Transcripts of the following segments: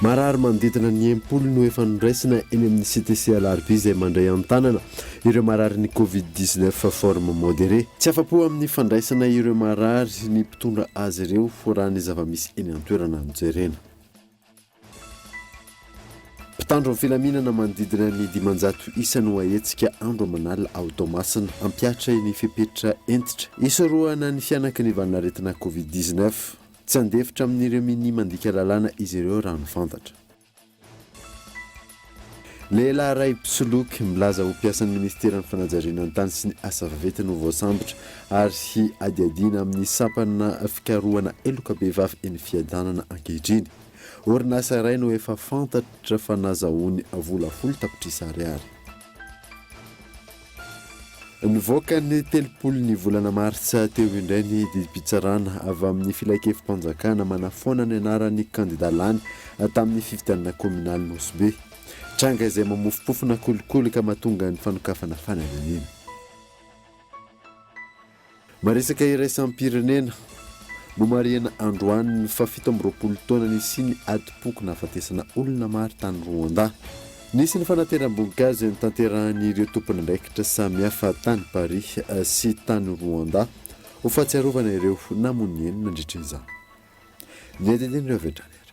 Marary manodidina ny enim-polo no efa noraisina eny amin'ny CTC Alarvie izay mandray an-tanana ireo mararin'ny Covid dix neuf forme modéré. Tsy afa-po amin'ny fandraisana ireo marary ny mpitondra azy ireo raha ny zava-misy eny an-toerana no jerena. Mpitandro ny filaminana manodidina ny dimanjato isa no ahetsika andro aman'alina ao Toamasina, hampihatra ny fepetra hentitra hisorohana ny fihanaky ny valin'aretina Covid dix-neuf. Tsy handefitra amin'ireo minia mandika lalàna izy ireo raha mifantatra. Lehilahy iray mpisoloky, milaza ho mpiasan'ny minisiteran'ny fanajariana ny tany sy ny asa vaventy no voasambotra ary adiadiana amin'ny sampana fikarohana heloka behivavy eny Fiadanana ankehitriny. Orinasa iray no efa fantatra fa nazahoany vola folo tapitrisa ariary. Nivoaka ny telopolo ny volana martsa teo indray ny didim-pitsarana avy amin'ny filankevi-panjakana manafoana ny anaran'ny kandida lany tamin'ny fifidianana kaominaly Nosy Be. Tranga izay mamofompofona kolikoly ka mahatonga ny fanokafana fanadinina. Maresaka iraisam-pirenena. Nomarihana androany ny fahafito amby roapolo taona nisian'ny adim-poko nahafatesana olona maro tany Rwanda. Nisy ny fanateram-boninkazo notanterahin'ireo tompon'andraikitra samihafa tany Paris sy tany Rwanda ho fahatsiarovana ireo namono ny eny nandritra izany. Ny andinindininy avy hatrany ary.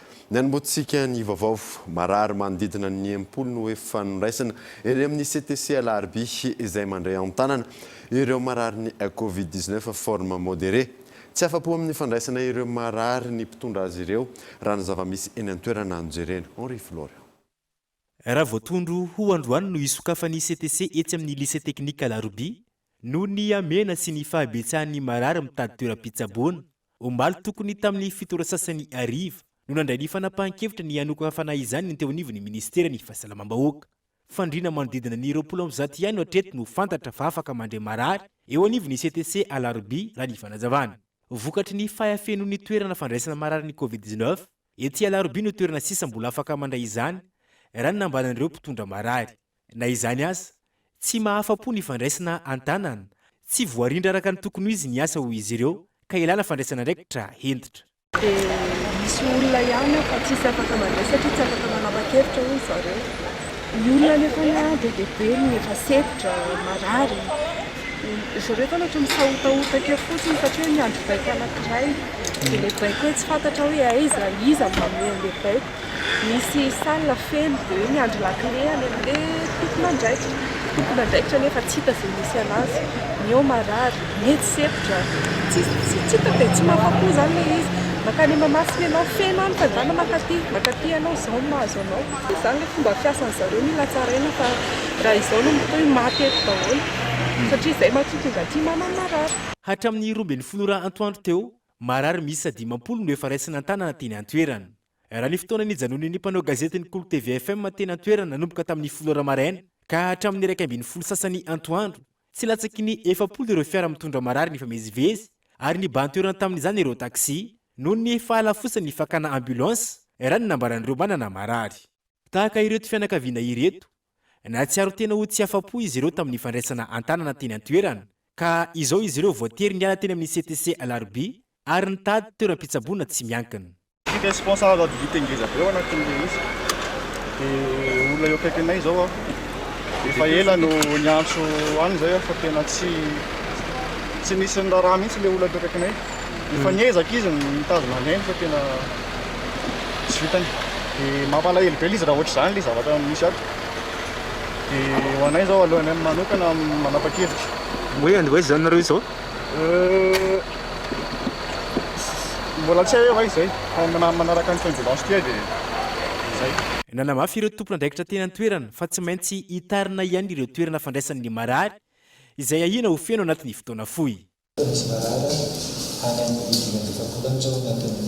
Nanombohantsika ny vaovao. Marary manodidina ny enimpolo no efa noraisina eny amin'ny CTC Alarobia izay mandray an-tanana ireo mararin'ny Covid dix neuf forme modere. Tsy afa-po amin'ny fandraisana ireo marary ny mpitondra azy ireo raha ny zava-misy eny an-toerana no jerena. Henri Florian. Raha vao tondro ho androany no hisokafan'ny CTC etsy amin'ny Lycée Technique Alarobia, noho ny hamehana sy ny fahabetsahan'ny marary mitady toeram-pitsaboana. Omaly tokony tamin'ny fito ora sasany hariva no nandray ny fanapahan-kevitra ny hanokafana izany ny teo anivon'ny Ministeran'ny Fahasalamam-bahoaka. Fandriana manodidina ny roapolo amby zato ihany no hatreto no fantatra fa afaka mandray marary eo anivon'ny CTC Alarobia, raha ny fanazavana. Vokatry ny fahafenoan'ny toerana fandraisana marary ny Covid dix-neuf, Ety Alarobia no toerana sisa mbola afaka mandray izany, raha ny nambaran'ireo mpitondra marary. Na izany aza, tsy mahafa-po ny fandraisana an-tanana, tsy voarindra araka ny tokony ho izy ny asa hoy izy ireo ka ilana fandraisana andraikitra hentitra. Dia misy olona ihany ao fa tsisy afaka mandray satria tsy afaka manapa-kevitra hoy zareo. Ny olona anefa be dia be no efa sempotra, marary. Zareo tao ohatran'ny sahotahota kely fotsiny satria niandry baiko anankiray. Dia ilay baiko hoe tsy fantatra hoe aiza, iza no maneho an'ilay baiko. Nisy salle feno dia hoe miandry lakile any amin'ilay tompon'andraikitra. Tompon'andraikitra nefa tsy hita izay misy an'azy. Ny eo marary, ny etsy sempotra. Tsy tsy hita dia tsy mahafa-po izany ilay izy. Mankany Mahamasina ianao, feno any, tandàna mankaty, mankaty ianao, izao no mahazo anao. Dia izany ilay fomba fiasan-dry zareo, mila tsaraina fa raha izao no mitohy, maty eto daholo, satria izay mantsy no tonga aty manana marary. Hatramin'ny roa ambin'ny folo ora antoandro teo, marary miisa dimampolo no efa raisina an-tanana teny an-toerana. Raha ny fotoana nijanonan'ny mpanao gazety ny Kolo TV FM teny an-toerana nanomboka tamin'ny folo ora maraina ka hatramin'ny iraika ambin'ny folo sasany antoandro Tsy latsaky ny efapolo ireo fiara mitondra marary nifamezivezy ary nibahan-toerana tamin'izany ireo taxi noho ny fahalafosan'ny fakana ambulance, raha ny nambaran'ireo manana marary. Tahaka ireto fianakaviana ireto, nahatsiaro tena ho tsy afa-po izy ireo tamin'ny fandraisana an-tanana teny an-toerana ka izao izy ireo voatery niala teny amin'ny CTC alarobia ary nitady toeram-pitsaboana tsy miankina. Tsy responsable ady vita ngeza be ao anatin'ilay izy dia olona eo akaikinay izao aho efa ela no niantso any izay aho fa tena tsy tsy nisy ny raharaha mihitsy ilay olona teo akaikinay efa hmm. niezaka izy nitazona anay fa tena tsy vitany dia mampalahelo be izy raha ohatra izany ilay zavatra misy ato dia ho anay izao alohanay manokana manapa-kevitra hoe andevoizy izany nareo izao Euh, mbola tsy hay hoe hoay izay fa manaraka ny coincidence ity aho dia izay. Nanamafy ireo tompon'andraikitra teny an-toerana fa tsy maintsy hitarina ihany ireo toerana fandraisan'ny marary izay ahiana ho feno anatin'ny fotoana fohy. Misy marary any amin'ny dimy amby efapolo any izao anatin'ny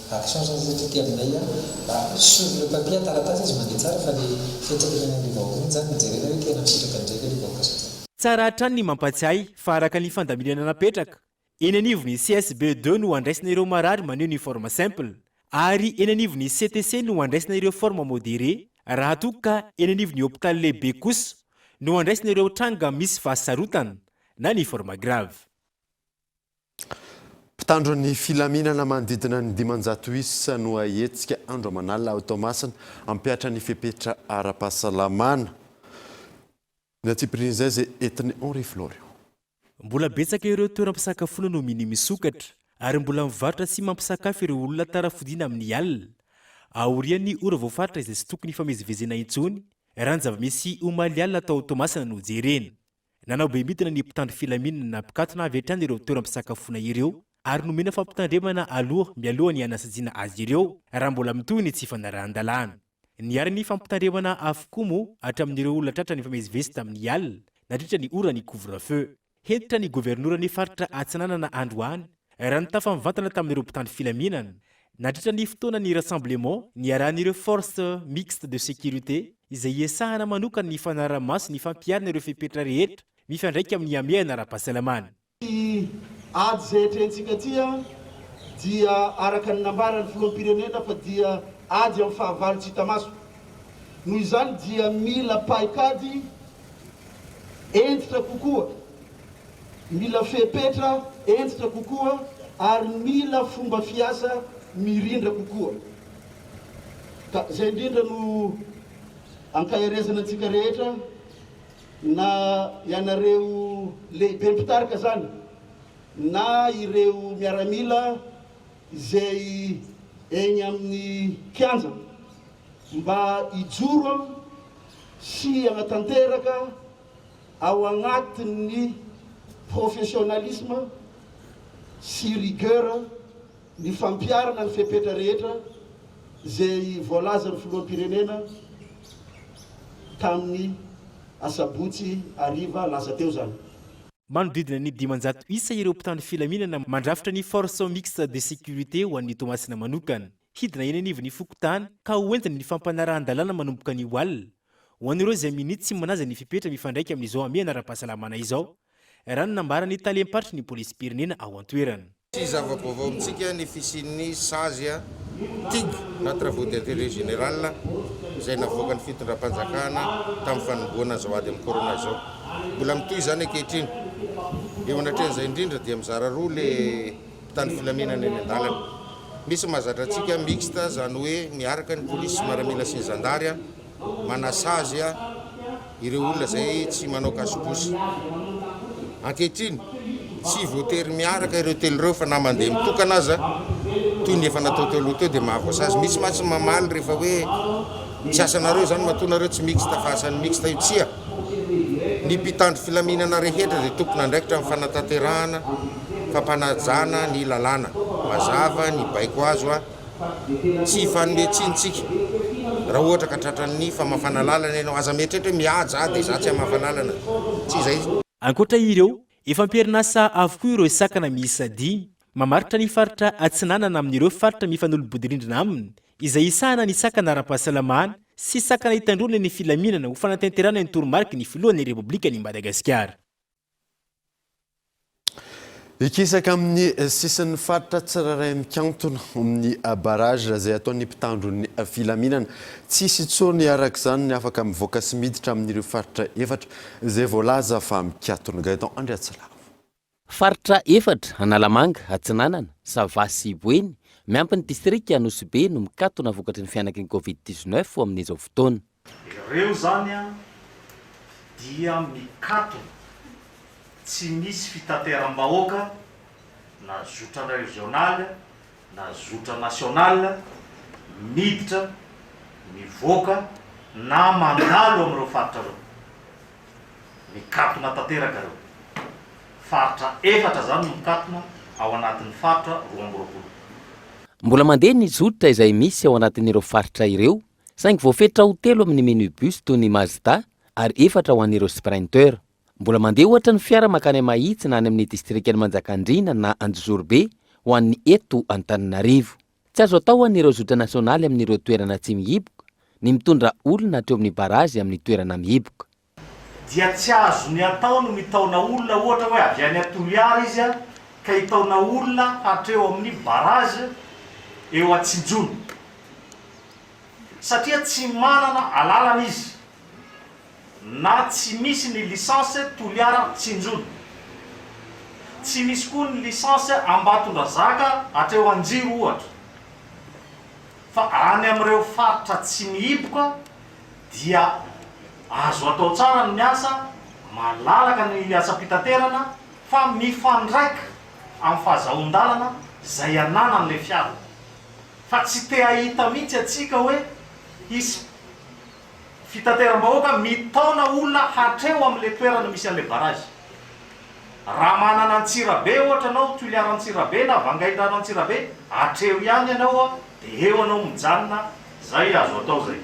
Ato sarotra ny setra aty aminay a! Sur le papier an-taratasy izy mandeha tsara fa le fetraka eny amin'ilay vahoaka iny zany no jerena hoe tena misitraka indray ve le vahoaka sa tsia. Tsara hatrany ny mampatsiahy fa araka ny fandaminana napetraka, eny anivon'ny CSB deux no andraisana ireo marary maneho ny forme simple ary eny anivon'ny CTC no andraisana ireo forme modere raha toa ka eny anivon'ny hopitaly lehibe kosa no andraisana ireo tranga misy fahasarotana na ny forme grave. Mpitandro ny filaminana manodidina ny dimanjato isa no ahetsika andro aman'alina ao Toamasina hampihatra ny fepetra ara-pahasalamana. Ny antsipirian'izay izay entin'i Henri Florio. Mbola betsaka ireo toeram-pisakafoana no minia misokatra ary mbola mivarotra sy mampisakafo ireo olona tara fodiana amin'ny alina aorian'ny ora voafaritra izay tsy tokony hifamezivezena intsony raha ny zava-misy omaly alina tao Toamasina no jerena. Nanao be midina ny mpitandro filaminana nampikatona avy hatrany ireo toeram-pisakafoana ireo ary nomena fampitandremana aloha mialoha ny hanasajina azy ireo raha mbola mitohy ny tsy fanarahan-dalàna. Niary ny fampitandremana avokoa moa hatramin'ireo olona tratra nifamezivezy tamin'ny alina nandritra ny ora ny couvre-feu. Hentitra ny governoran'ny faritra Atsinanana androany Raha nitafa mivantana tamin'ireo mpitandro filaminana nandritra ny fotoanan'ny rassemblement niarahan'ireo Force Mixte de Sécurité izay iasahana manokana ny fanarahamaso ny fampiharana ireo fepetra rehetra mifandraika amin'ny hamehana ara-pahasalamana. Ity ady izay atrehintsika ity dia araka ny nambaran'ny Filoham-pirenena fa dia ady amin'ny fahavalo tsy hita maso. Noho izany dia mila paikady hentitra kokoa. Mila fepetra hentitra kokoa ary mila fomba fiasa mirindra kokoa. Ka izay indrindra no ankaherezana antsika rehetra, na ianareo lehibe mpitarika izany na ireo miaramila izay eny amin'ny kianja, mba hijoro sy hanatanteraka ao anatin'ny professionnalisme sy rigueur ny fampiharana ny fepetra rehetra izay voalazan'ny Filoham-pirenena tamin'ny asabotsy hariva lasa teo izany. Manodidina ny dimanjato isa ireo mpitandro filaminana mandrafitra ny Force Mixte de Sécurité ho an'ny Toamasina manokana. Hidina eny anivon'ny fokontany ka ho entina ny fampanarahan-dalàna manomboka anio alina. Ho an'ireo izay minia tsy manaja ny fepetra mifandraika amin'izao hamehana ara-pahasalamana izao, raha ny nambaran'ny talem-paritry ny polisim-pirenena ao an-toerana. Tsy zava-baovao amintsika ny fisian'ny sazy, tig, na travaux d'intérêt général, izay navoakan'ny fitondram-panjakana tamin'ny fanombohana izao ady amin'ny corona izao. Mbola mitohy izany ankehitriny. Eo anatrehan'izay indrindra dia mizara roa ilay. Mpitandro filaminana eny an-dalana. Misy mahazatra antsika mixte izany hoe miaraka ny polisy sy maramila sy ny zandary manasazy ireo olona izay tsy manao kasobosy. Ankehitriny, tsy voatery miaraka ireo telo ireo fa na mandeha mitokana aza toy ny efa natao teo aloha teo dia mahavoasazy. Misy mantsy mamaly rehefa hoe tsy asanareo izany matoa nareo tsy mixte fa asan'ny mixte io. Tsia, ny mpitandro filaminana rehetra dia tompon'andraikitra amin'ny fanatanterahana fampanajana ny lalàna. Mazava ny baiko azo a! Tsy hifanome tsiny tsika raha ohatra ka tratran'ny famafana lalana ianao. Aza mieritreritra hoe mihaja aho dia izaho tsy hamafa lalana. Tsy izay. Ankoatra ireo, efa am-perinasa avokoa ireo sakana miisa dimy mamaritra ny faritra Atsinanana amin'ireo faritra mifanolo-bodirindrina aminy izay hisahana ny sakana ara-pahasalamana sy sakana hitandroana ny filaminana ho fanatanterahana ny toromariky ny Filohan'ny Repoblikan'i Madagasikara. Hikisaka amin'ny sisin'ny faritra tsirairay mikantona amin'ny barrage izay ataon'ny mpitandro ny filaminana. Tsy hisy intsony araka izany ny afaka mivoaka sy miditra amin'ireo faritra efatra izay voalaza fa mikatona. Gaëtan Andriatsilavo. Faritra efatra, Analamanga, Atsinanana, Sava sy Boeny, miampy ny distrika Anosibe no mikatona vokatry ny fianak'ny Covid dix-neuf amin'izao fotoana. Ireo zany an dia mikatona tsy misy fitateram-bahoaka na zotra régional na zotra national miditra mivoaka na mandalo amin'ireo faritra ireo. Mikatona tanteraka ireo. Faritra efatra zany no mikatona ao anatin'ny faritra roa amby roapolo. Mbola mandeha ny zotra izay misy ao anatin'ireo faritra ireo Saingy voafetra ho telo amin'ny minibus toy ny Mazda ary efatra ho an'ireo Sprinter. Mbola mandeha ohatra ny fiara mankany Mahitsy na any amin'ny distrikan'i Manjakandriana na Anjozorobe ho an'ny eto Antananarivo. Tsy azo atao ho an'ireo zotra nasionaly amin'ireo toerana tsy mihiboka ny mitondra olona hatreo amin'ny barazy amin'ny toerana mihiboka. dia tsy azony atao ny mitaona olona ohatra hoe avy any Toliara izy ka hitaona olona hatreo amin'ny barrage eo Atsinjono satria tsy manana alalana izy na tsy misy ny licence Toliara Tsinjono tsy misy koa ny licence Ambatondrazaka hatreo Anjiro ohatra fa any amin'ireo faritra tsy mihiboka dia azo atao tsara ny miasa malalaka ny asam-pitaterana fa mifandraika amin'ny fahazahoan-dalana izay ananan'ilay fiara fa tsy te hahita mihitsy antsika hoe hisy fitateram-bahoaka mitaona olona hatreo amin'ilay toerana misy an'ilay barrage. Raha manana Antsirabe ohatra ianao, Toliara-Antsirabe na Vangaindrano-Antsirabe, hatreo ihany ianao dia eo ianao mijanona, Zay azo atao zay.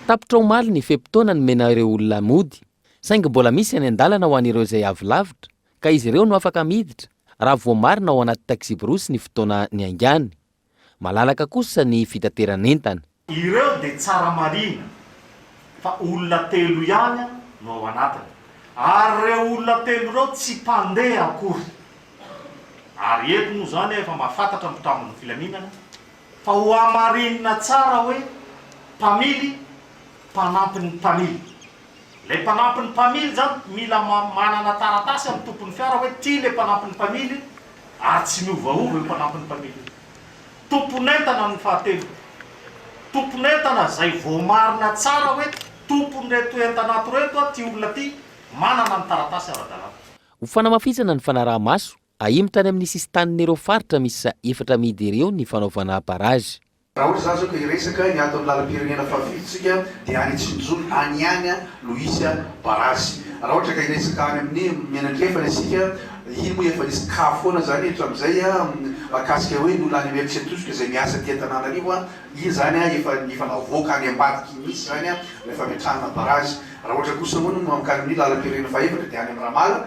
Tapitra omaly ny fe-potoana nomena ireo olona mody, saingy mbola misy any an-dalana ho an'ireo izay avy lavitra ka izy ireo no afaka miditra raha voamarina ao anaty taxi-brousse ny fotoana niaingàny. Malalaka kosa ny fitateran'entana. Ireo dia tsara marihina fa olona telo ihany no ao anatiny ary ireo olona telo ireo tsy mpandeha akory. Ary eto moa izany efa mahafantatra ny mpitandro ny filaminana Fa hohamarinina tsara hoe mpamily mpanampy ny mpamily. Ilay mpanampy ny mpamily izany mila manana taratasy amin'ny tompon'ny fiara hoe ity ilay mpanampy ny mpamily ary tsy miovaova io mpanampy ny mpamily io. Tompon'entana ny fahatelo. Tompon'entana izay voamarina tsara hoe tompon'ireto entana ato ireto ity olona ity, manana ny taratasy ara-dalàna. Ho fanamafisana ny fanaraha-maso, Ahimo tany amin'ny sisin-tanin'ireo faritra miisa efatra amidy ireo ny fanaovana barrage. Raha hoy za zao ka hiresaka ny aton'ny lalam-pirenena fahafito tsika dia any Tsinjoly any ihany no hisy barrage. Raha ohatra ka hiresaka any amin'ny Mianankefana isika, iny moa efa nisy cas foana zany hatramizay mahakasika hoe ny olona any Imerintsiatosika izay miasa aty Antananarivo, iny zany efa efa navoaka any ambadika iny mihitsy zany ilay fametrahana barrage. Raha ohatra kosa hono mankany amin'ny lalam-pirenena fahaefatra dia any amin'ny Ramala,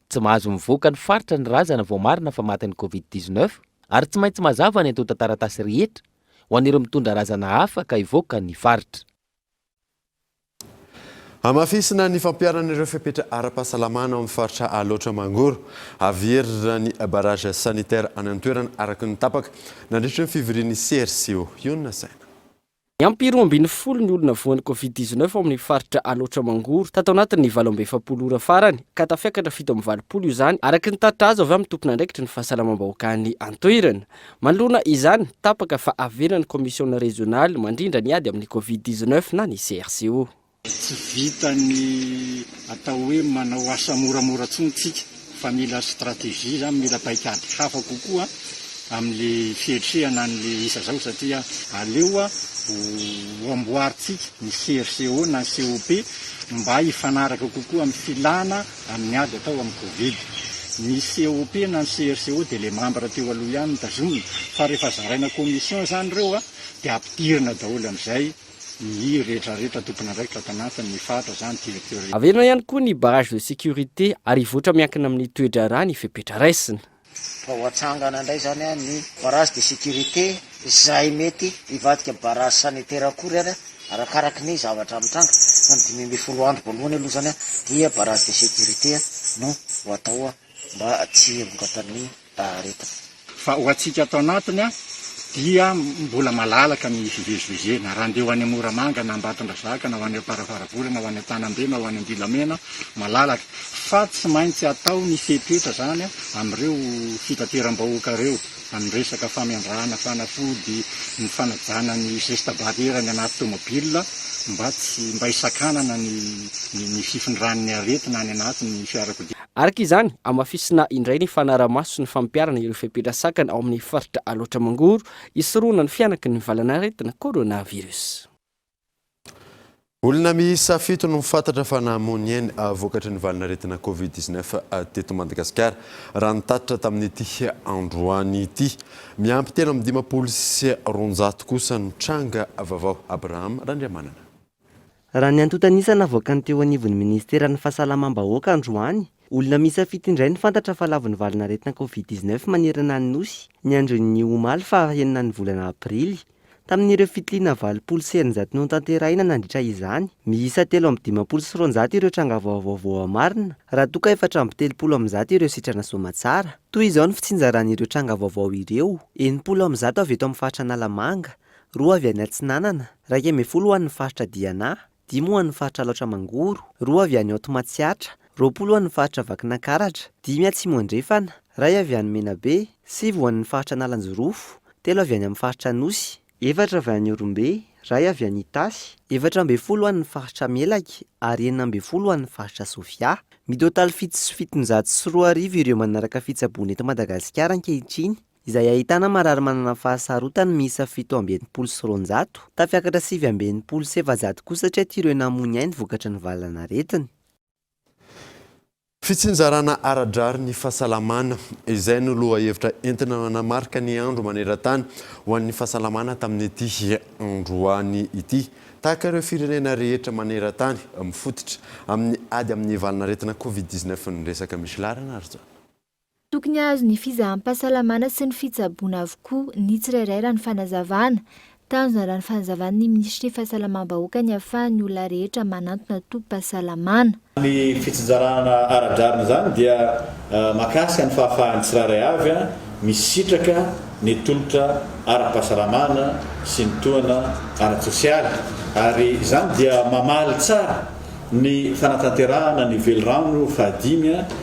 Tsy mahazo mivoaka ny faritra ny razana vao marina fa matin'ny Covid dix neuf ary tsy maintsy mazava ny antontan-taratasy rehetra ho an'ireo mitondra razana hafa ka hivoaka ny faritra. Hamafisina ny fampiharana ireo fepetra ara-pahasalamana ao amin'ny faritra Alaotra Mangoro. Haverina ny barrage sanitaire any an-toerana araka ny tapaka nandritry ny fivorian'ny CRCO. Io no nasaina. Niampy roa ambin'ny folo ny olona voan'ny Covid dix-neuf ao amin'ny faritra Alaotra Mangoro tato anatin'ny valo amby efapolo ora farany ka tafiakatra fito amby valopolo io izany araka ny tatitra azo avy amin'ny tompon'andraikitry ny fahasalamam-bahoaka any an-toerana. Manoloana izany, tapaka fa avelan'ny kaomisiona rezionaly mandrindra ny ady amin'ny Covid dix-neuf na ny CRCO. Tsy vitan'ny atao hoe manao asa moramora intsony isika fa mila stratégie izany, mila paikady hafa kokoa amin'ilay fiatrehana an'ilay isa izao satria aleo ho amboarintsika ny CRCO na COP mba hifanaraka kokoa amin'ny filàna amin'ny ady atao amin'ny covid. Ny COP na ny CRCO dia ilay mambra teo aloha ihany no tazomina fa rehefa zaraina commission izany ireo dia ampidirina daholo amin'izay Ny rehetra rehetra tompon'andraikitra ato anatin ny faritra izany dia teo rehetra. Averina ihany koa ny barrage de sécurité ary hivoatra miankina amin ny toe-draharaha ny fepetra raisina. Fa ho atsangana indray izany an ny barrage de sécurité izay mety hivadika barrage sanitaire akory ary arakaraka ny zavatra mitranga fa ny dimy ambin'ny folo andro voalohany aloha izany dia barrage de sécurité no ho atao mba tsy hiheboka amin ny Rehetra. Fa ho antsika ato anatiny dia mbola malalaka ny fivezivezena. Raha andeha ho any Moramanga na Ambatondrazaka na ho any Amparafaravola na ho any Antanambe na ho any Andilamena, malalaka. Fa tsy maintsy atao ny fepetra izany amin'ireo fitateram-bahoaka ireo amin'ny resaka famendrahana fanafody, ny fanajana ny zesta barrière any anaty tomobilina mba tsy, mba hisakanana ny ny fifindran'ny aretina any anatin'ny fiarakodia. Araka izany, hamafisina indray ny fanarahamaso sy ny fampiharana ireo fepetra sakana ao amin'ny faritra Alaotra Mangoro hisorohana ny fihanaky ny valanaretina coronavirus. Olona miisa fito no fantatra fa nahamoy ny ainy vokatry ny valanaretina covid dix neuf teto Madagasikara raha ny tatitra tamin'ity androany ity. Miampy telo amby dimampolo sy roanjato kosa ny tranga vavao. Abraham Randriamanana. Raha ny antontan'isa navoakan'ny teo anivon'ny Ministeran'ny Fahasalamam-bahoaka androany, olona miisa fito indray no fantatra fa lavon'ny valanaretina Covid dix neuf manerana ny Nosy, ny andron'ny omaly faha enina ny volana aprily. Tamin'ireo fitiliana valopolo sy eninjato notanterahina nandritra izany, miisa telo amby dimampolo sy roanjato ireo tranga vaovao voamarina, raha toa ka efatra amby telopolo amin'ny zato ireo sitrana soamatsara. Toy izao ny fitsinjaran'ireo tranga vaovao ireo, enimpolo amin'ny zato avy eto amin'ny faritra Analamanga, roa avy any Atsinanana, iraika ambin'ny folo ho an'ny faritra Diana, dimy ho an'ny faritra Alaotra Mangoro, roa avy any Haute Matsiatra, roapolo ho an'ny faritra Vakinankaratra, dimy Atsimo Andrefana, iray avy any Menabe, sivy ho an'ny faritra Analanjirofo, telo avy any amin'ny faritra Anosy, efatra avy any Ihorombe, iray avy any Itasy, efatra ambin'ny folo ho an'ny faritra Melaky ary enina ambin'ny folo ho an'ny faritra Sofia. Mitotaly fito sy fitonjato sy roa arivo ireo manaraka fitsaboana eto Madagasikara ankehitriny izay ahitana marary manana fahasarotana miisa fito amby enimpolo sy roanjato, tafiakatra sivy amby enimpolo sy efajato kosa hatry aty ireo namoy ainy vokatry ny valanaretina. Fitsinjarana ara-drariny ny fahasalamana, izay no lohahevitra entina nanamarika ny andro maneran-tany ho an'ny fahasalamana tamin'ity androany ity. Tahaka ireo firenena rehetra maneran-tany, mifototra amin'ny ady amin'ny valanaretina covid dix-neuf ny resaka misy laharana ary izany. Tokony hahazo ny fizaham-pahasalamana sy ny fitsaboana avokoa ny tsirairay raha ny fanazavana. Tanjona raha ny fanazavan'ny minisitry ny Fahasalamam-bahoaka ny ahafahan' ny olona rehetra manantona tobim-pahasalamana. Ny fitsinjarana ara-drariny izany dia mahakasika ny fahafahan'ny tsirairay avy misitraka ny tolotra ara-pahasalamana sy ny tohana ara-tsosialy ary izany dia mamaly tsara ny fanatanterahana ny velirano fahadimy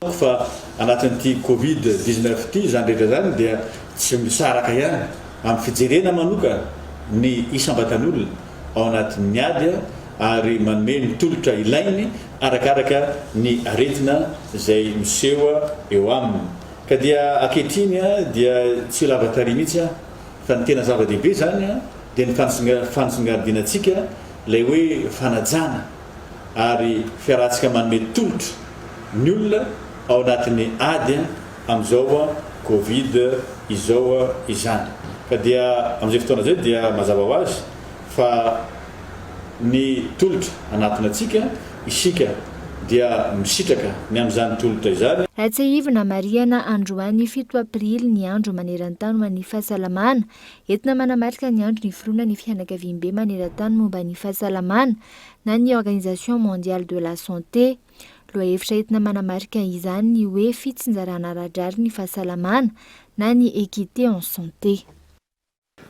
Hitako fa anatin'ity covid dix neuf ity izany rehetra izany dia tsy misaraka ihany amin'ny fijerena manokana ny isam-batan'olona ao anatin'ny ady ary manome ny tolotra ilainy arakaraka ny aretina izay miseho eo aminy ka dia ankehitriny dia tsy lava tarehy mihitsy fa ny tena zava-dehibe izany dia ny fanisongadinantsika ilay hoe fanajana ary fiarahantsika manome tolotra ny olona ao anatin'ny ady amin'izao covid izao izany ka dia amin'izay fotoana izay dia mazava ho azy fa ny tolotra anatona antsika isika dia misitraka ny amin'izany tolotra izany. Tsiahivina marihana androany fito aprily ny andro maneran-tany ho an'ny fahasalamana. Entina manamarika ny andron'ny iforoana ny fianakaviambe maneran-tany momba ny fahasalamana na ny Organisation Mondiale de la Santé. Lohahevitra entina manamarika izany ny hoe fitsinjarana ara-drariny ny fahasalamana na ny équité en santé.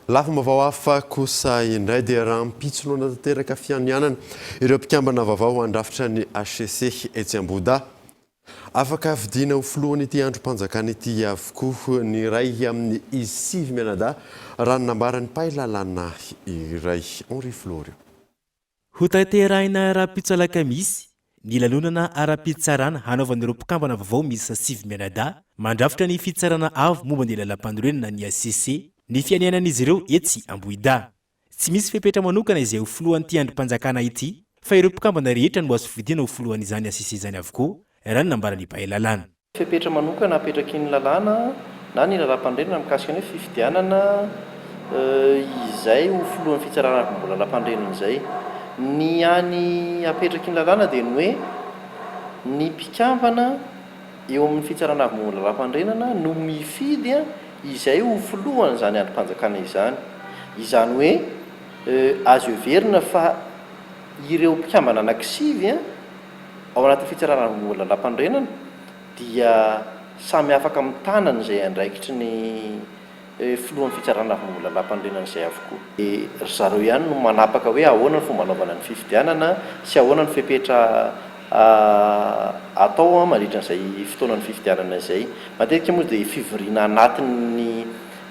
Lafim-baovao hafa kosa indray dia rahampitsolona tanteraka fianianana ireo mpikambana vaovao handrafitra ny HCC etsy Ambohidahy. Afaka hafidiana ho filohan'ity andrim-panjakana ity avokoa ny iray amin'ny izy sivy mianadahy, raha ny nambaran'ny mpahay lalàna iray, Henri Florio. Hotanterahina ara-pitsoalakamisy ny lanonana ara-pitsarana hanaovan'ireo mpikambana vaovao miisa sivy mianadahy mandrafitra ny Fitsarana Avo momba ny Lalampanorenana ny hcc, ny fianianan'izy ireo etsy Ambohidahy. Tsy misy fepetra manokana izay ho filohan'ity andrim-panjakana ity fa ireo mpikambana rehetra no azo fidiana ho filohan'izany ACC izany avokoa, raha ny nambaran'ny mpahay lalàna. Fepetra manokana apetrakin'ny lalàna na ny Lalàmpanorenana mikasika ny hoe fifidianana izay ho filohan'ny fitsarana arivombolalampanorenana izay. Ny hany apetrakin'ny lalàna dia ny hoe ny mpikambana. eo amin'ny Fitsarana Avo Momba ny Lalàm-panorenana no mifidy izay ho filohan'izany andrim-panjakana izany. Izany hoe azo heverina fa ireo mpikambana anankisivy ao anatin'ny Fitsarana Avo Momba ny Lalàm-panorenana dia samy afaka mitana an'izay andraikitry ny Filohan'ny fitsarana avy mbola lampanorenana izay avokoa. Ry zareo ihany no manapaka hoe ahoana ny fomba anaovana ny fifidianana sy ahoana ny fepetra atao mandritra an'izay fotoanan'ny fifidianana izay. Matetika moa dia fivoriana anatin'ny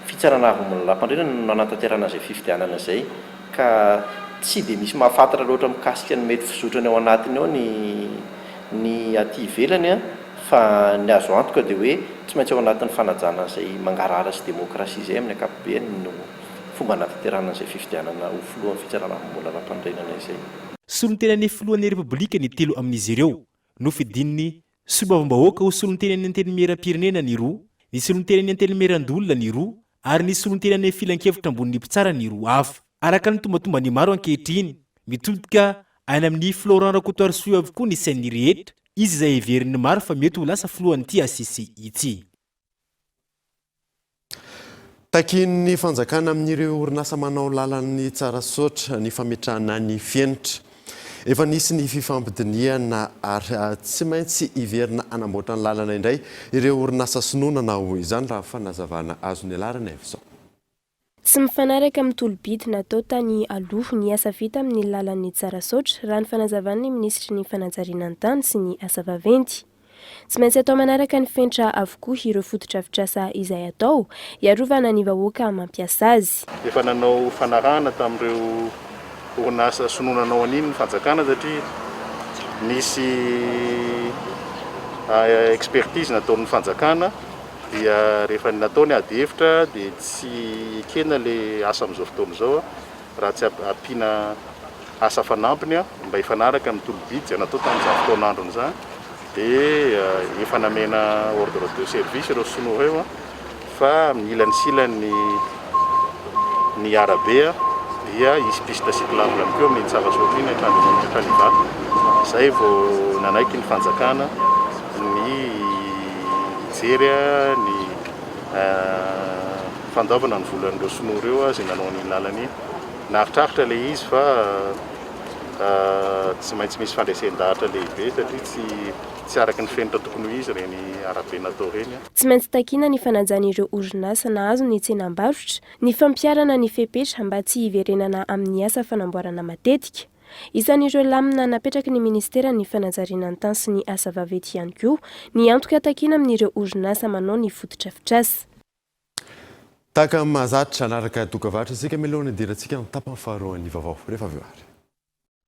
fitsarana avy mbola lampanorenana no nanatanterahana izay fifidianana izay ka tsy dia misy mahafantatra loatra mikasika ny mety fizotran'ny ao anatiny ao ny Ny aty ivelany fa ny azo antoka dia hoe tsy maintsy ao anatin'ny fanajana izay mangarahara sy demokrasia izay amin'ny ankapobeny no fomba hanatanterahana an'izay fifidianana ho filohan'ny fitsarana amim-bola ara-panorenana izay. Solontenan'ny filohan'ny Repoblika ny telo amin'izy ireo. Nofidin'ny Solombavambahoaka ho solontenan'ny Antenimierampirenena ny roa, ny solontenan'ny Antenimierandoholona ny roa ary ny solontenan'ny Filankevitra ambonin'ny Mpitsara ny roa hafa. Araka ny tombantomban'ny maro ankehitriny, mitodika any amin'i Florent Rakotoarisoa avokoa ny sain'ny rehetra, izy izay heverin'ny maro fa mety ho lasa filohan'ity HCC ity. Takian'ny fanjakana amin'ireo orinasa manao lalan'ny tsara soatra ny fametrahana ny fenitra. Efa nisy ny fifampidinihana ary tsy maintsy hiverina hanamboatra ny lalana indray ireo orinasa sinoa nanao izany, raha fanazavana azo nialarana avy izao. Tsy mifanaraka amin'ny tolo-bidy natao tany aloha ny asa vita amin'ny lalan'ny Tsarasaotra, raha ny fanazavan'ny minisitry ny fanajariana ny tany sy ny asa vaventy. Tsy maintsy atao manaraka ny fenitra avokoa ireo fotodrafitrasa izay atao, hiarovana ny vahoaka mampiasa azy. Efa nanao fanarahana tamin'ireo orinasa sinoa nanao an'iny ny fanjakana satria nisy expertise nataon'ny fanjakana. dia rehefa natao ny ady hevitra dia tsy ekena ilay asa amin'izao fotoana izao raha tsy ampiana asa fanampiny mba hifanaraka amin'ny tolo-bidy izay natao tamin'izany fotoan'androny izany dia efa namena ordre de service ireo sinoa ireo fa mila ny silany ny arabe dia hisy piste cyclable ihany koa amin'ny Tsara Soa aty hatrany amin'ny Kaliva, izay vao nanaiky ny fanjakana ny hijery ny fandoavana ny volan'ireo sinoa ireo izay nanao an'iny lalana iny. Naritraritra ilay izy fa tsy maintsy misy fandresen-dahatra lehibe satria tsy tsy araka ny fenitra tokony ho izy ireny arabe natao ireny. Tsy maintsy takiana ny fanajàn'ireo orinasa nahazo ny tsenam-barotra, ny fampiharana ny fepetra mba tsy hiverenana amin'ny asa fanamboarana matetika. Isan'ireo lamina napetraky ny Ministeran'ny Fanajariana ny Tany sy ny Asa Vaventy ihany koa ny antoka takiana amin'ireo orinasa manao ny fotodrafitrasa. Tahaka ny mahazatra, hanaraka dokam-barotra isika mialoha ny hidirantsika amin'ny tapany faharoan'ny vaovao. Rehefa avy eo ary.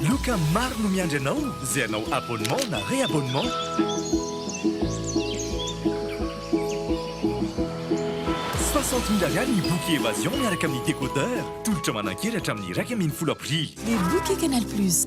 Loka maro no miandry anao izay hanao abonnement na reabonnement. Soixante mille ariary ny boky Evasion miaraka amin'ny décodeur. Tolotra manan-kery hatramin'ny iraika ambin'ny folo aprily. Ny boky Canal Plus.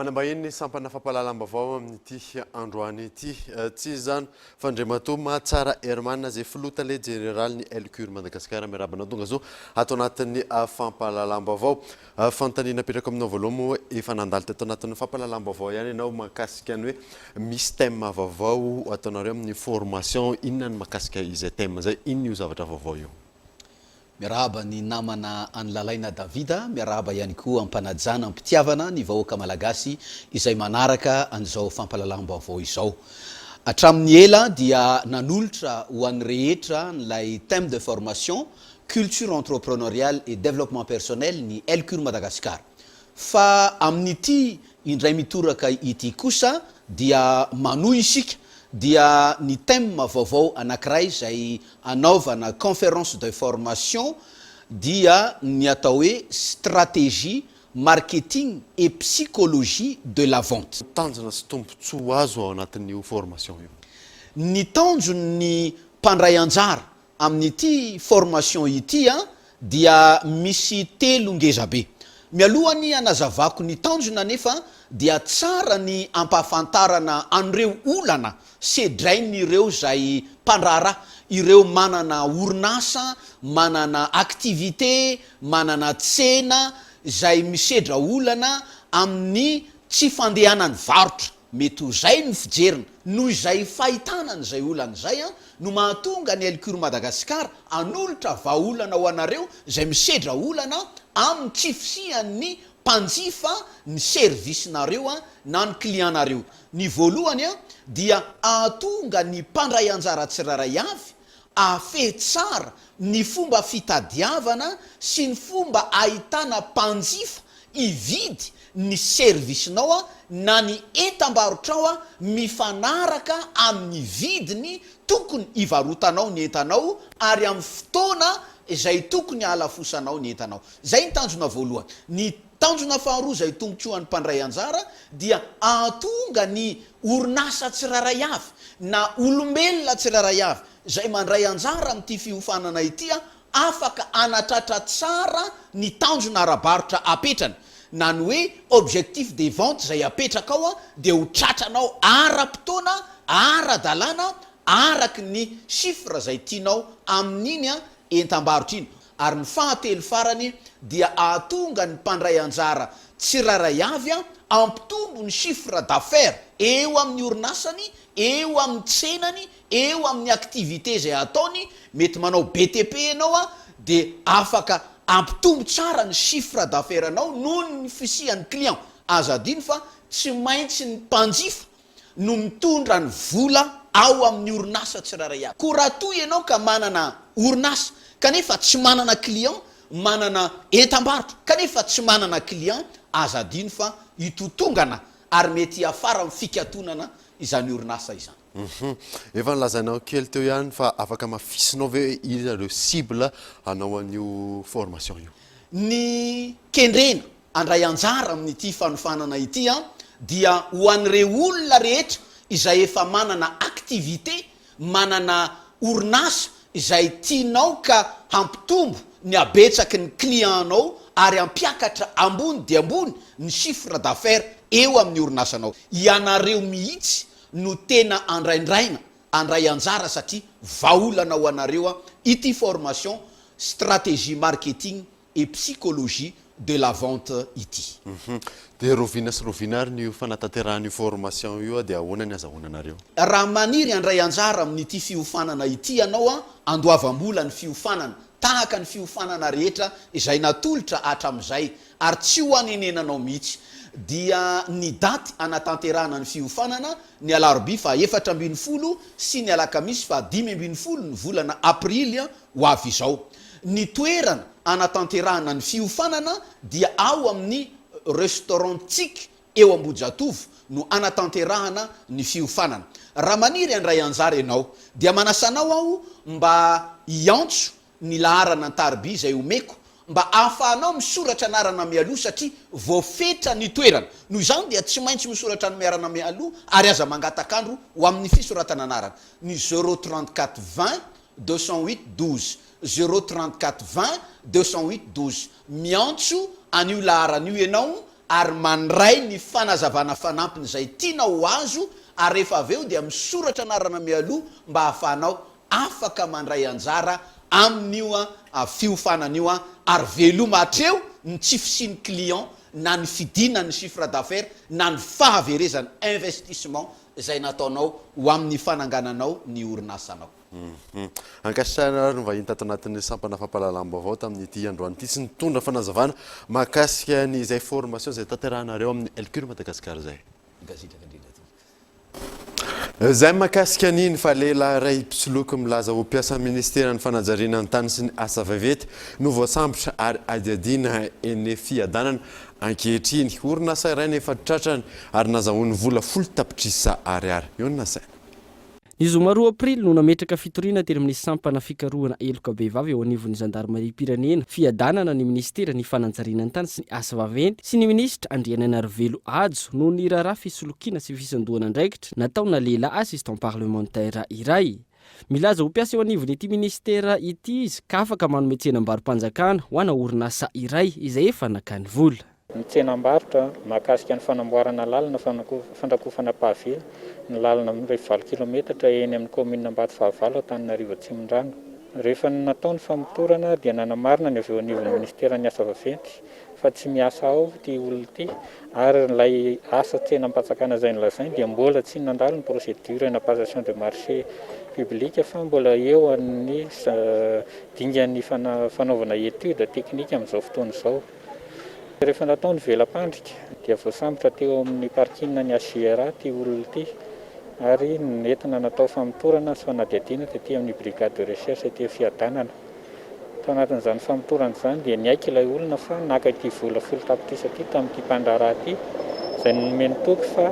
Manambahiny ny sampana fampahalalam-baovao amin'ity androany ity. Eh, tsy izany fa Andriamatoa Mahatsara Herman izay filoha tale jeneralin'ny LCUR Madagasikara miarabana tonga zo ato anatin'ny ah, fampahalalam-baovao. Fanontaniana apetrako aminao voaloha moa efa nandalo teto anatin'ny fampahalalam-baovao ihany ianao mahakasika ny hoe misy thème vaovao ataonareo amin'ny formation inona ny mahakasika izay thème izay? Inona io zavatra vaovao io? Miarahaba ny namana an'i Lalaina Davida, miarahaba ihany koa am-panajana am-pitiavana ny vahoaka Malagasy izay manaraka an'izao fampahalalam-baovao izao. Hatramin'ny ela dia nanolotra ho an'ny rehetra an'ilay thème de formation Culture Entrepreneuriale et Développement Personnel ny Elcur Madagascar. Fa amin'ity indray mitoraka ity kosa dia manohy isika dia ny thème vaovao anankiray izay hanaovana conférence de formation dia ny atao hoe Stratégie Marketing et Psychologie de la Vente. Tanjona sy tombontsoa azo ao anatin'io formation io? Ny tanjon'ny mpandray anjara Amin'ity formation ity dia misy telo ngezabe. Mialohan'ny hanazavako ny tanjona anefa dia tsara ny hampahafantarana an'ireo olana sedrain'ireo izay mpandraharaha, ireo manana orinasa, manana activité, manana tsena izay misedra olana amin'ny tsy fandehanan'ny varotra. Mety ho izay no fijeriny, noho izay fahitana an'izay olana izay an, no mahatonga ny Elcur Madagascar hanolotra vahaolana ho anareo izay misedra olana amin'ny tsy fisian'ny mpanjifa ny service-nareo na ny client-nareo. Ny voalohany dia hahatonga ny mpandray anjara tsirairay avy hahafehy tsara ny fomba fitadiavana sy ny fomba ahitana mpanjifa Hividy ny servisinao na ny entam-barotrao mifanaraka amin'ny vidiny tokony hivarotanao ny entanao ary amin'ny fotoana izay tokony halafosanao ny entanao. Izay ny tanjona voalohany. Ny tanjona faharoa izay tombontsoan'ny mpandray anjara dia hahatonga ny orinasa tsirairay avy na olombelona tsirairay avy izay mandray anjara amin'ity fiofanana ity afaka hanatratra tsara ny tanjona ara-barotra apetrany na ny hoe objectif de vente izay apetrakao dia ho tratranao ara-potoana, ara-dalàna, araka ny chiffre izay tianao amin'iny entam-barotra iny. Ary ny fahatelo farany dia hahatonga ny mpandray anjara tsirairay avy hampitombo ny chiffre d'affaires eo amin'ny orinasany, eo amin'ny tsenany, Eo amin'ny activité izay ataony, mety manao BTP ianao an, dia afaka hampitombo tsara ny chiffre d'affaires anao noho ny fisian'ny client. Aza adino fa tsy maintsy ny mpanjifa no mitondra ny vola ao amin'ny orinasa tsirairay avy. Koa raha toa ianao ka manana orinasa kanefa tsy manana client, manana entam-barotra kanefa tsy manana client, aza adino fa hitotongana ary mety hiafara amin'ny fikatonana izany orinasa izany. Hum efa nilazainao kely teo ihany fa afaka amafisinao ve hoe iza ireo cible hanao an'io formation io? Ny kendrena handray anjara amin'ity fanofanana ity dia ho an'ireo olona rehetra izay efa manana activité, manana orinasa izay tianao ka hampitombo ny habetsaky ny client-nao ary hampiakatra ambony dia ambony ny chiffre d'affaires eo amin'ny orinasanao. Ianareo mihitsy no tena andraindraina andray anjara satria vahaolana ho anareo ity formation stratégie marketing et psychologie de la vente ity. Hum dia roviana sy roviana ary ny fanatanterahana io formation io dia ahoana ny azahoana anareo? Raha maniry handray anjara amin'ity fiofanana ity ianao andoavam-bola ny fiofanana tahaka ny fiofanana rehetra izay natolotra hatramin'izay ary tsy ho anenenanao mihitsy, dia ny daty hanatanterahana ny fiofanana, ny alarobia faha efatra ambin'ny folo sy ny alakamisy faha dimy ambin'ny folo ny volana aprily ho avy izao. Ny toerana hanatanterahana ny fiofanana dia ao amin'ny Restaurant Tsic eo Ambohijatovo no hanatanterahana ny fiofanana. Raha maniry handray anjara ianao dia manasa anao aho mba hiantso ny laharana an-tariby izay omeko mba ahafahanao misoratra anarana mialoha satria voafetra ny toerana. Noho izany dia tsy maintsy misoratra anmiarana mialoha ary aza mangataka andro ho amin' ny fisoratana anarana. Ny zero trente quatre vingt deux cent huit douze, zero trente quatre vingt deux cent huit douze, Miantso an'io laharana io ianao ary mandray ny fanazavana fanampiny izay tianao ho azo ary rehefa avy eo dia misoratra anarana mialoha mba ahafahanao afaka mandray anjara amin'io fiofanana io ary veloma hatreo ny tsy fisian'ny client na ny fidinan'ny chiffre d'affaires na ny fahaverezana, investissement, izay nataonao ho amin'ny fanangananao ny orinasanao. Ankasitrahana ary ny vahiny tato anatin'ny sampana fampahalalam-baovao tamin'ity androany ity sy nitondra fanazavana mahakasika ny izay formation izay tanterahinareo amin'ny Lcur Madagascar izay. Gazedraka indrindra aty. Izay mahakasika ny ny fa lehilahy iray mpisoloky milaza ho mpiasan'ny ministeran'ny fanajariana ny tany sy ny asa vaventy no voasambotra ary adiadiana eny Fiadanana ankehitriny. Orinasa iray no efa tratrany ary nazahoany vola folo tapitrisa ariary. Eo ny nasaina. Ny zoma roa aprily no nametraka fitoriana teny amin'ny sampana fikarohana heloka vehivavy eo anivon'ny zandarimariam-pirenena, fiadanana ny minisitera ny fanajariana ny tany sy ny asa vaventy sy ny minisitra Andrianainarivelo Hajo noho ny raharaha fisolokiana sy fisandohan'andraikitra nataona lehilahy assistant parlementaire iray milaza ho mpiasa eo anivon'ity minisitera ity izy ka afaka manome tsenam-baro-panjakana ho ana orinasa iray izay efa nakany vola. ny tsenam-barotra, mahakasika ny fanamboarana lalana fandrakofana pavé ny lalana mirefy valo kilaometatra eny amin'ny kaominina Ambatofahavalo Antananarivo Atsimondrano. Rehefa natao ny famotorana dia nanamarina ny avy eo anivon'ny minisiteran'ny asa vaventy fa tsy miasa ao ity olona ity ary ilay asa tsenam-pantsakana izay nolazainy dia mbola tsy nandalo ny procédure na passation de marché public fa mbola eo amin'ny dingan'ny fanaovana étude technique amin'izao fotoana izao. Rehefa natao ny vela-pandrika dia voasambotra teo amin'ny parking ny HJR ity olona ity ary nentina natao famotorana sy fanadihadiana tety amin'ny brigade de recherche ety Fiadanana. Tao anatin'izany famotorana izany dia niaiky ilay olona fa naka ity vola folo tapitrisa ity tamin'ity mpandraharaha ity izay nomeny toky fa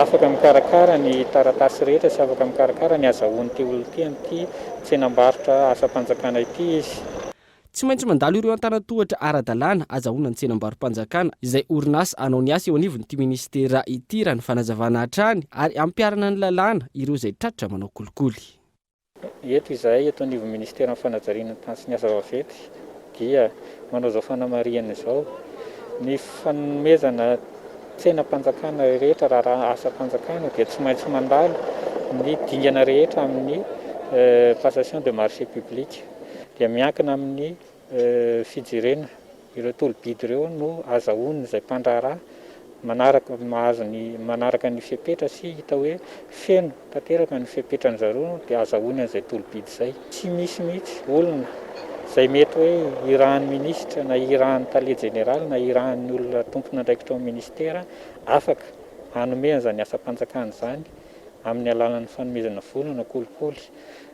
afaka mikarakara ny taratasy rehetra sy afaka mikarakara ny azahoan'ity olona ity amin'ity tsenam-barotra asam-panjakana ity izy. Tsy maintsy mandalo ireo antanan-tohatra ara-dalàna azahoana ny tsenam-barom-panjakana izay orinasa hanao ny asa eo anivon'ity minisitera ity, raha ny fanazavana hatrany, ary hampiharana ny lalàna ireo izay tratra manao kolikoly. Eto izahay eto anivon'ny minisiteran'ny fanajariana ny tany sy ny asa vaventy dia manao izao fanamarihana izao, ny fanomezana tsenam-panjakana rehetra raharaha asam-panjakana dia tsy maintsy mandalo ny dingana rehetra amin'ny passation de marché public. dia miankina amin'ny fijerena ireo tolo-bidy ireo no azahoan'izay mpandraharaha manaraka mahazo ny manaraka ny fepetra sy hita hoe feno tanteraka ny fepetran'ny zareo dia azahoany an'izay tolo-bidy izay. Tsy misy mihitsy olona izay mety hoe irahan'ny minisitra na irahan'ny tale jeneraly na irahan'ny olona tompon'andraikitra ao minisitera afaka hanome an'izany asam-panjakana izany amin'ny alalan'ny fanomezana vola na kolikoly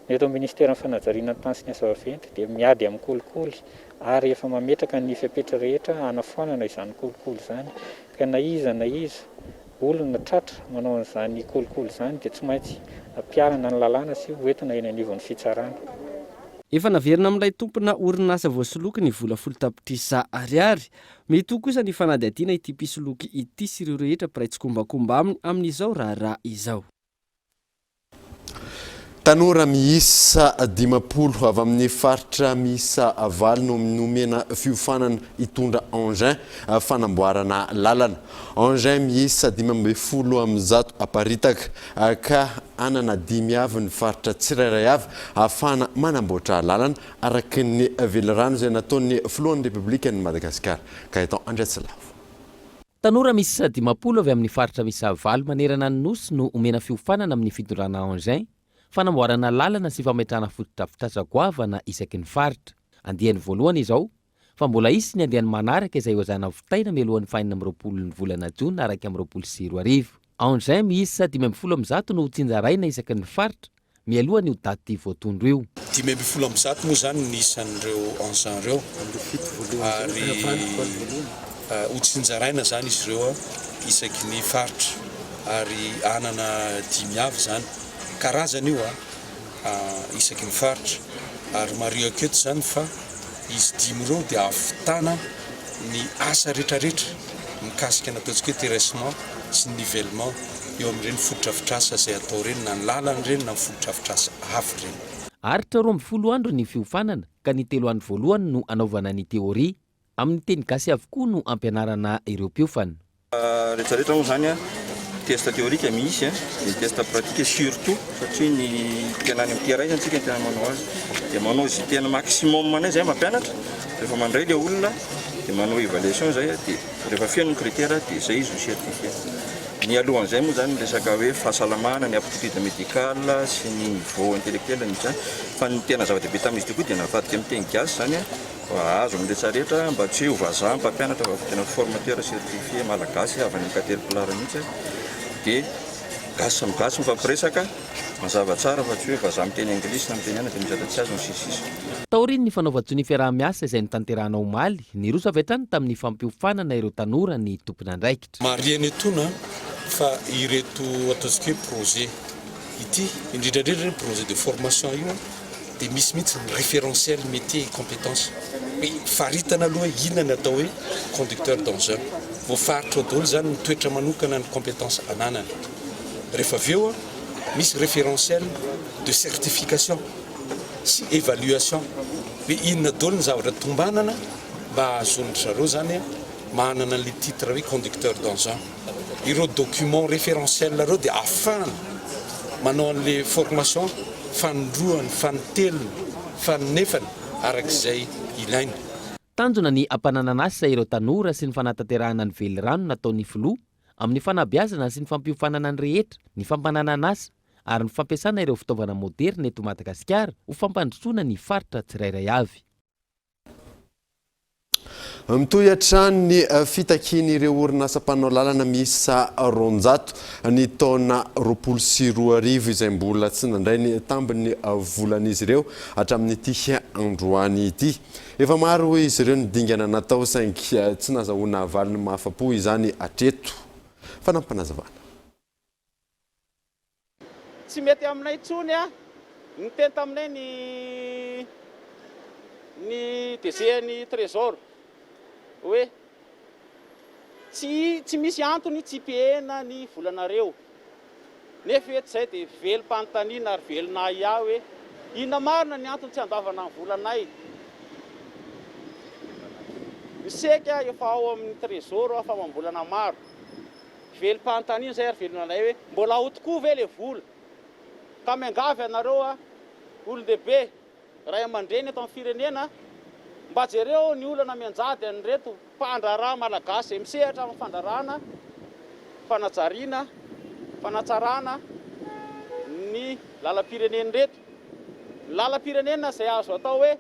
Ny eto amin'ny Ministeran'ny Fanajariana ny Tany sy ny Asa Vaventy dia miady amin'ny kolikoly ary efa mametraka ny fepetra rehetra hanafoanana izany kolikoly izany ka na iza na iza olona tratra manao an'izany kolikoly izany dia tsy maintsy ampiharina ny lalàna sy hoentina eny anivon'ny fitsarana. Efa naverina amin'ilay tompona orinasa voasoloky ny vola folo tapitrisa Ariary. Mitohy kosa ny fanadihadiana ity mpisoloky ity sy ireo rehetra mpiray tsikombakomba aminy amin'izao raharaha izao. Tanora miisa dimampolo avy amin'ny faritra miisa valo no nomena fiofanana hitondra engin fanamboarana lalana. Engin miisa dimy ambin'ny folo amin'ny zato aparitaka ka hanana dimy avy ny faritra tsirairay avy hahafahana manamboatra lalana araka ny velirano izay nataon'ny filohan'ny Repoblikan'i Madagasikara, Gaëtan Andriatsilavo. Tanora miisa dimampolo avy amin'ny faritra miisa valo manerana ny Nosy no omena fiofanana amin'ny fitondrana engin, fanamboarana lalana sy fametrahana fotodrafitrasa goavana isaky ny faritra. Andiany voalohany izao, fa mbola hisy ny andiany manaraka izay ho zana vitaina mialohan'ny fahenina amby roapolon'ny volana jona iraika amby roapolo sy roa arivo. Engins miisa dimy ambin'ny folo amby zato no hotsinjaraina isaky ny faritra, mialoha an'io daty voatondro io. Dimy ambin'ny folo amby zato moa izany ny isan'ireo engins ireo ary hotsinjaraina izany izy ireo isaky ny faritra ary hanana dimy avy izany. Karazana io. isaky ny faritra ary marihiko eto izany fa izy dimy ireo dia ahavitana ny asa retraretra mikasika ny ataontsika hoe terressement sy ny nivellement eo amin'ireny fotodrafitrasa izay atao ireny na ny lalana ireny na ny fotodrafitrasa hafa ireny. Aharitra roa ambin'ny folo andro ny fiofanana ka ny telo andro voalohany no anaovana ny teoria. Amin'ny teny gasy avokoa no ampianarana ireo mpiofana. Rehetra rehetra moa izany test théorique misy an, ny test pratique surtout satria ny tena any amin'ity iray izany isika no tena manao azy dia manao izay tena maximum anay izay mampianatra rehefa mandray ilay olona dia manao évaluation izay dia rehefa feno ny critère dia izay izy no certifié. Ny alohan'izay moa izany ny resaka hoe fahasalamana, ny aptitude médicale sy ny niveau intellectuel ny izany fa ny tena zava-dehibe tamin'izy ity koa dia navadika amin'ny teny gasy izany an. Azo amin'ny retraretra mba tsy hoe ho vazaha mpampianatra fa tena formateur certifié malagasy avy any Caterpillar mihitsy dia gasy samy gasy mifampiresaka mazava tsara fa tsy hoe vazaha miteny anglisy na miteny inona dia mizatra tsy azy ny sisy sisa. Taorian'ny fanaovan-tsonia fiaraha-miasa izay notanterahana omaly, niroso avy hatrany tamin'ny fampiofanana ireo tanora ny tompon'andraikitra. Marihina etoana fa ireto ataontsika hoe projet ity, indrindra indrindra io projet de formation io dia misy mihitsy ny référentiel métier et compétence hoe faritana aloha hoe inona ny atao hoe conducteur d'engin, voafaritra ao daholo izany ny toetra manokana ny compétence ananany. Rehefa avy eo misy référentiel de certification sy évaluation hoe inona daholo ny zavatra tombanana mba hahazoan-dry zareo izany manana an'ilay titre hoe conducteur d'engin, ireo documents référentiels ireo dia afahana manao an'ilay formation fanindroany, fanintelony, faninefany araka izay ilaina. Tanjona ny hampananan'asa ireo tanora sy ny fanatanterahana ny velirano nataon'ny Filoha amin'ny fanabeazana sy ny fampiofanana ny rehetra, ny fampananan'asa ary ny fampiasana ireo fitaovana moderina eto Madagasikara ho fampandrosoana ny faritra tsirairay avy. Mitohy hatrany ny fitakian'ireo orinasa mpanao lalana miisa roanjato ny taona roapolo sy roa arivo izay mbola tsy nandray ny tambin'ny volan'izy ireo hatramin'ity androany ity. Efa maro izy ireo ny dingana natao saingy tsy nazahoana valiny mahafa-po izany hatreto. Fanampim-panazavana. Tsy mety aminay intsony a! Niteny taminay ny ny DG ny Trésor hoe tsy tsy misy antony tsy pihena ny volanareo. Nefa eto izay dia velom-panontaniana ary velon'ahiahy hoe inona marina ny antony tsy andoavana ny volanay. Ny seka efa ao amin'ny Trésor famam-bolana maro. Velom-panontaniana izay ary velona anay hoe mbola ao tokoa ve le vola? Ka miangavy anareo a, olon-dehibe, ray aman-dreny eto amin'ny firenena, mba jereo ny olana mianjady an'ireto mpandraharaha malagasy izay misehatra amin'ny fandraràna, fanajariana, fanatsaràna ny lalam-pirenena ireto. Ny lalam-pirenena izay azo atao hoe.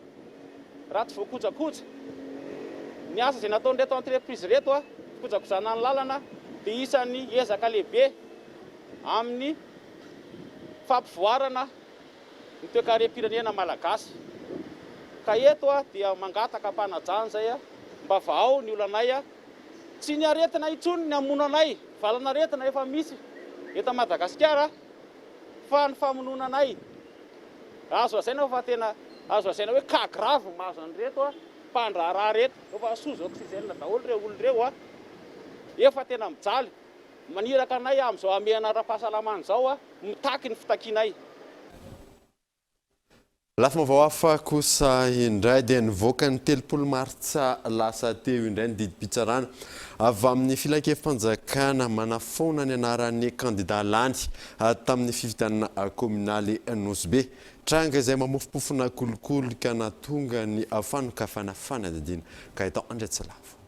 Raha tsy voakojakoja ny asa izay nataon'ireto entreprise ireto, fikojakojana ny lalana, dia isan'ny ezaka lehibe amin'ny fampivoarana ny toekarem-pirenena malagasy. Ka eto dia mangataka ampanajana izay mba vahao ny olanay. Tsy ny aretina intsony ny hamono anay, valanaretina efa misy eto Madagasikara. Fa ny famonoana anay, azo lazaina hoe fa tena azo lazaina hoe cas grave no mahazo an'ireto mpandraharaha ireto. Efa sous oxygène daholo ireo olona ireo, efa tena mijaly. Maniraka anay amin'izao hamehana ara-pahasalamana izao, mitaky ny fitakianay. Lafim-baovao hafa kosa indray dia nivoaka ny telopolo martsa lasa teo indray ny didim-pitsarana avy amin'ny filankevi-panjakana manafoana ny anaran'ny kandidà lany tamin'ny fifidianana kaominaly Nosy-Be. Tranga izay mamofompofona kolikoly ka nahatonga ny fanokafana fanadihadiana. Gaëtan Andriatsilavo.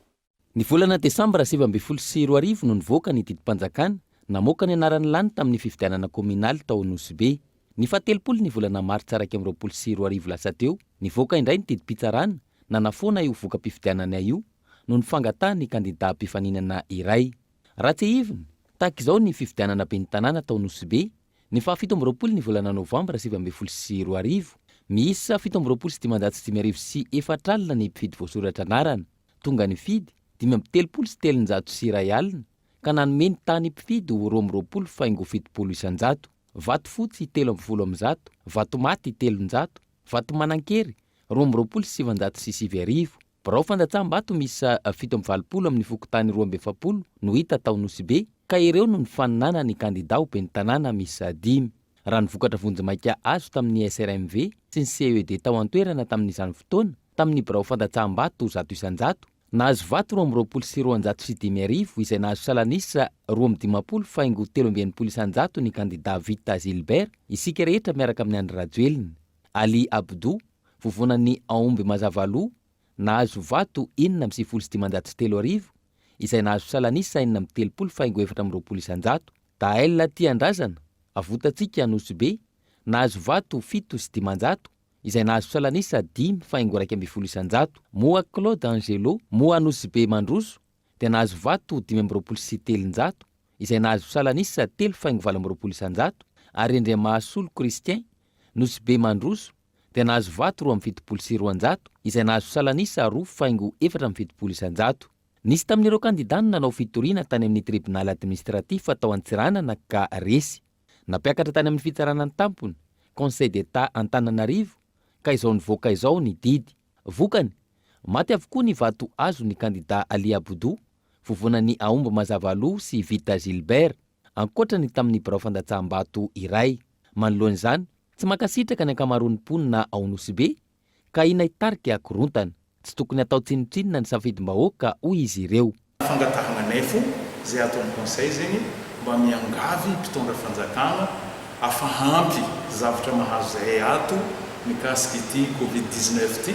Ny volana desambra sivy ambin'ny folo sy roa arivo no nivoaka ny didim-panjakana namoaka ny anarany lany tamin'ny fifidianana kaominaly tao Anosibe. Ny fahatelopolo ny volana martsa iraika amby roapolo sy roa arivo lasa teo, nivoaka indray ny didim-pitsarana nanafoana io voka-pifidianana io noho ny fangatahan'ny kandidà mpifaninana iray. Raha tsiahivina, tahaka izao ny fifidianana ben'ny tanàna tao Nosibe, ny fahafito amby roapolo ny volana novambra sivy ambin'ny folo sy roa arivo. Miisa fito amby roapolo sy dimanjato sy dimy arivo sy efatra alina ny mpifidy voasoratra anarana. Tonga ny mpifidy, dimy amby telopolo sy telonjato sy iray alina, ka nanome ny tany mpifidy ho roa amby roapolo faingo fitopolo isan-jato, vato fotsy telo amby folo amin-jato, vato maty telonjato, vato manan-kery roa amby roapolo sy sivinjato sy sivy arivo. Birao fandatsaham-bato miisa fito amby valopolo amin'ny fokontany roa amby efapolo no hita tao Nosy Be, ka ireo no nifaninanan'ny kandidà ho ben'ny tanàna miisa dimy. Raha ny vokatra vonjimaika azo tamin'ny SRMV sy ny CED tao an-toerana tamin'izany fotoana, tamin'ny birao fandatsahambato zato isan-jato, nahazo vato roa amby roapolo sy roanjato sy dimy arivo izay nahazo salanisa roa amby dimampolo faingo telo amby enimpolo isan-jato ny kandida Vita Gilbert, isika rehetra miaraka amin'i Andry Rajoelina, Ali Abdou, vovonan'ny Aomby Mazavaloha, nahazo vato enina amby sivifolo sy dimanjato sy telo arivo, izay nahazo salan'isa enina amby telopolo faingo efatra amby roapolo isan-jato. Dael Tiandrazana, Avotantsika Anosibe, nahazo vato fito sy dimanjato, izay nahazo salan'isa dimy faingo iraika ambin'ny folo isan-jato. Moa Claude Angelo, Moa Anosibe Mandroso, dia nahazo vato dimy amby roapolo sy telonjato, izay nahazo salan'isa telo faingo valo amby roapolo isan-jato, ary Rindriamahasoly Christian, Nosibe Mandroso, dia nahazo vato roa amby fitopolo sy roanjato izay nahazo salan'isa roa faingo efatra amby fitopolo isan-jato. Nisy tamin'ireo kandidà ny nanao fitoriana tany amin'ny tribonaly administratif tao Antsiranana ka resy. Nampiakatra tany amin'ny fitsarana an-tampony, Conseil d'Etat Antananarivo, ka izao nivoaka izao ny didy. Vokany, maty avokoa ny vato azon'ny kandidà Ali Aboudo, vovonan'i Aomby Mazavaloha sy Vita Gilbert. ankoatra ny tamin'ny birao fandatsaham-bato iray. Manoloana izany, tsy mankasitraka ny ankamaroan'ny mponina ao Nosy Be ka ahiana hitarika korontana. Tsy tokony hatao tsinotsinona ny safidim-bahoaka hoy izy ireo. Fangatahana nefo zay ataony conseil zegny mba miangavy mpitondra fanjakana afa ampy zavatra mahazo zahay ato mikasika ity covid dix-neuf ty.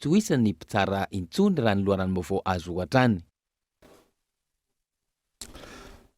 Tsy ho isan' ny mpitsara intsony raha ny loharanom-baovao azo hatrany.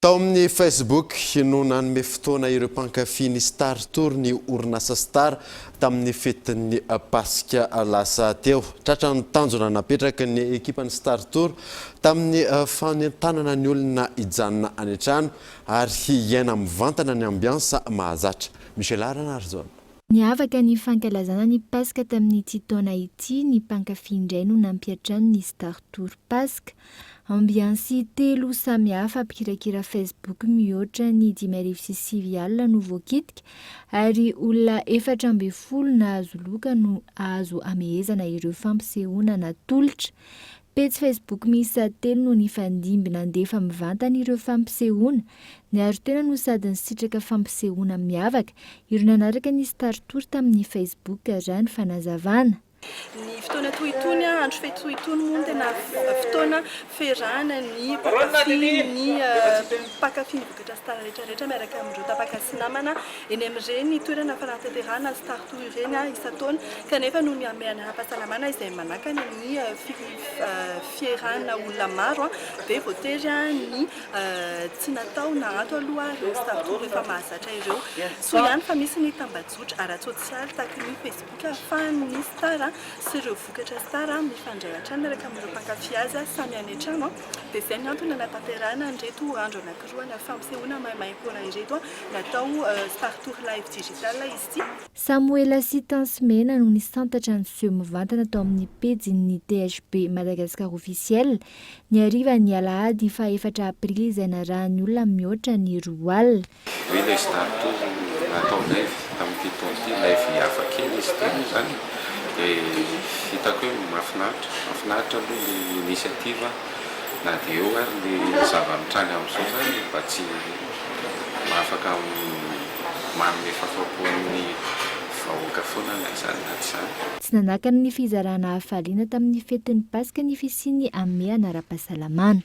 Tao amin'ny Facebook no nanome fotoana ireo mpankafy ny Star Tour ny orinasa Star tamin'ny fetin'ny Paska lasa teo. Tratra ny tanjona napetraky ny ekipan'ny Star Tour tamin'ny fanentanana ny olona hijanona any an-trano ary hiaina mivantana ny ambiansa mahazatra. Michela Ranarijaona. Niavaka ny fankalazana ny Paska tamin'ity taona ity, ny mpankafy indray no nampiantrano ny Star Tour Paska. Ambiansy telo samihafa, mpikirakira Facebook mihoatra ny dimy arivo sy sivy alina no voakitika, ary olona efatra ambin'ny folo nahazo loka no azo amehezana ireo fampisehoana natolotra. Pejy Facebook miisa telo no nifandimby nandefa mivantana ireo fampisehoana. Niaro tena no sady nisitraka fampisehoana miavaka ireo nanaraka ny Startour tamin'ny Facebook, raha ny fanazavana. Ny fotoana toy itony, andro fety toy itony moa no tena fotoana fiarahana ny mpankafy ny mpankafy Rehetra sy tara rehetra rehetra miaraka amin'ireo tapaka sy namana eny amin'ireny toerana fanatanterahana ny Star Tour ireny isan-taona kanefa noho ny hamehana ara-pahasalamana izay manakana ny fierahana olona maro dia voatery ny tsy natao na ato aloha ireo Star Tour efa mahazatra ireo. Soa ihany fa misy ny tambajotra ara-tsosialy tahaka ny Facebook ahafahan'ny Star sy ireo vokatra Star mifandray hatrany miaraka amin'ireo mpankafy azy samy any an-trano. Dia izay ny antony hanatanterahana an'ireto andro anankiroa ana fampisehoana maimaimpoana ireto, natao Star Tour Live Digital izy ity. Samoela sy Tansy Mena no nisantatra ny seho mivantana tao amin'ny pejin'ny THB Madagascar Officiel, ny harivan'ny alahady faha efatra aprily izay narahan'ny olona mihoatra ny roa alina. Oui ilay zidane toa natao naivo tamin'ity taona ity, naivo hafa kely izy ity moa izany e, hitako hoe mahafinaritra, mahafinaritra aloha ny initiative na dia eo ary ny zava-mitranga amin'izao izany mba tsy afaka manome fahafapo an'ny vahoaka foana na izany na tsy izany. Tsy nanakana ny fizarana hafaliana tamin'ny fetin'ny Paska ny fisian'ny hamehana ara-pahasalamana.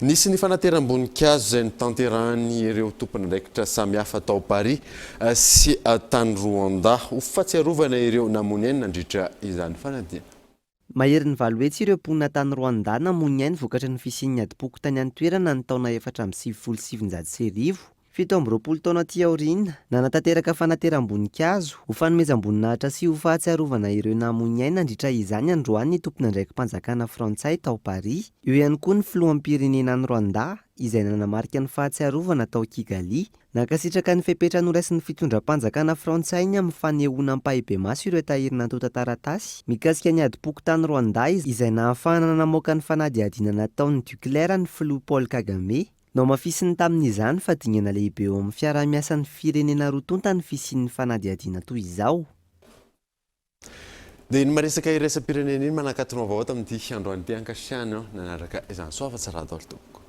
Nisy ny fanateram-boninkazo izay notanterahin' ireo tompon'andraikitra samihafa tao Paris sy tany Rwanda ho fahatsiarovana ireo namoy ny ainy nandritra izany fanadihana. Maherin'ny valo hetsy ireo mponina tany Rwanda namoy ny ainy vokatry ny fisian'ny adim-poko tany an-toerana ny taona efatra amby sivifolo sy sivinjato sy arivo. Fito amby roapolo taona aty aoriana, nanatanteraka fanateram-boninkazo, ho fanomezam-boninahitra sy ho fahatsiarovana ireo namoy ny ainy nandritra izany androany ny tompon'andraiki-panjakana frantsay tao Paris. Eo ihany koa ny filoham-pirenena any Rwanda, izay nanamarika ny fahatsiarovana tao Kigali. Nankasitraka ny fepetra noraisin'ny fitondram-panjakana frantsay ny amin'ny fanehoana ampahibemaso ireo tahiry nantontan-taratasy mikasika ny adim-poko tany Rwanda izay nahafahana namoaka ny fanadihadiana nataon'ny Duclair ny filoha Paul Kagame. Nohamafisiny tamin'izany fa dingana lehibe eo amin'ny fiaraha-miasan'ny firenena roa tonta ny fisian'ny fanadihadiana toy izao. Dia iny maresaka iraisam-pirenena iny manakatona vaovao tamin'ity androany ity ankasitrahany aho nanaraka izany. Soa afa-tsy Radaolo tompoko.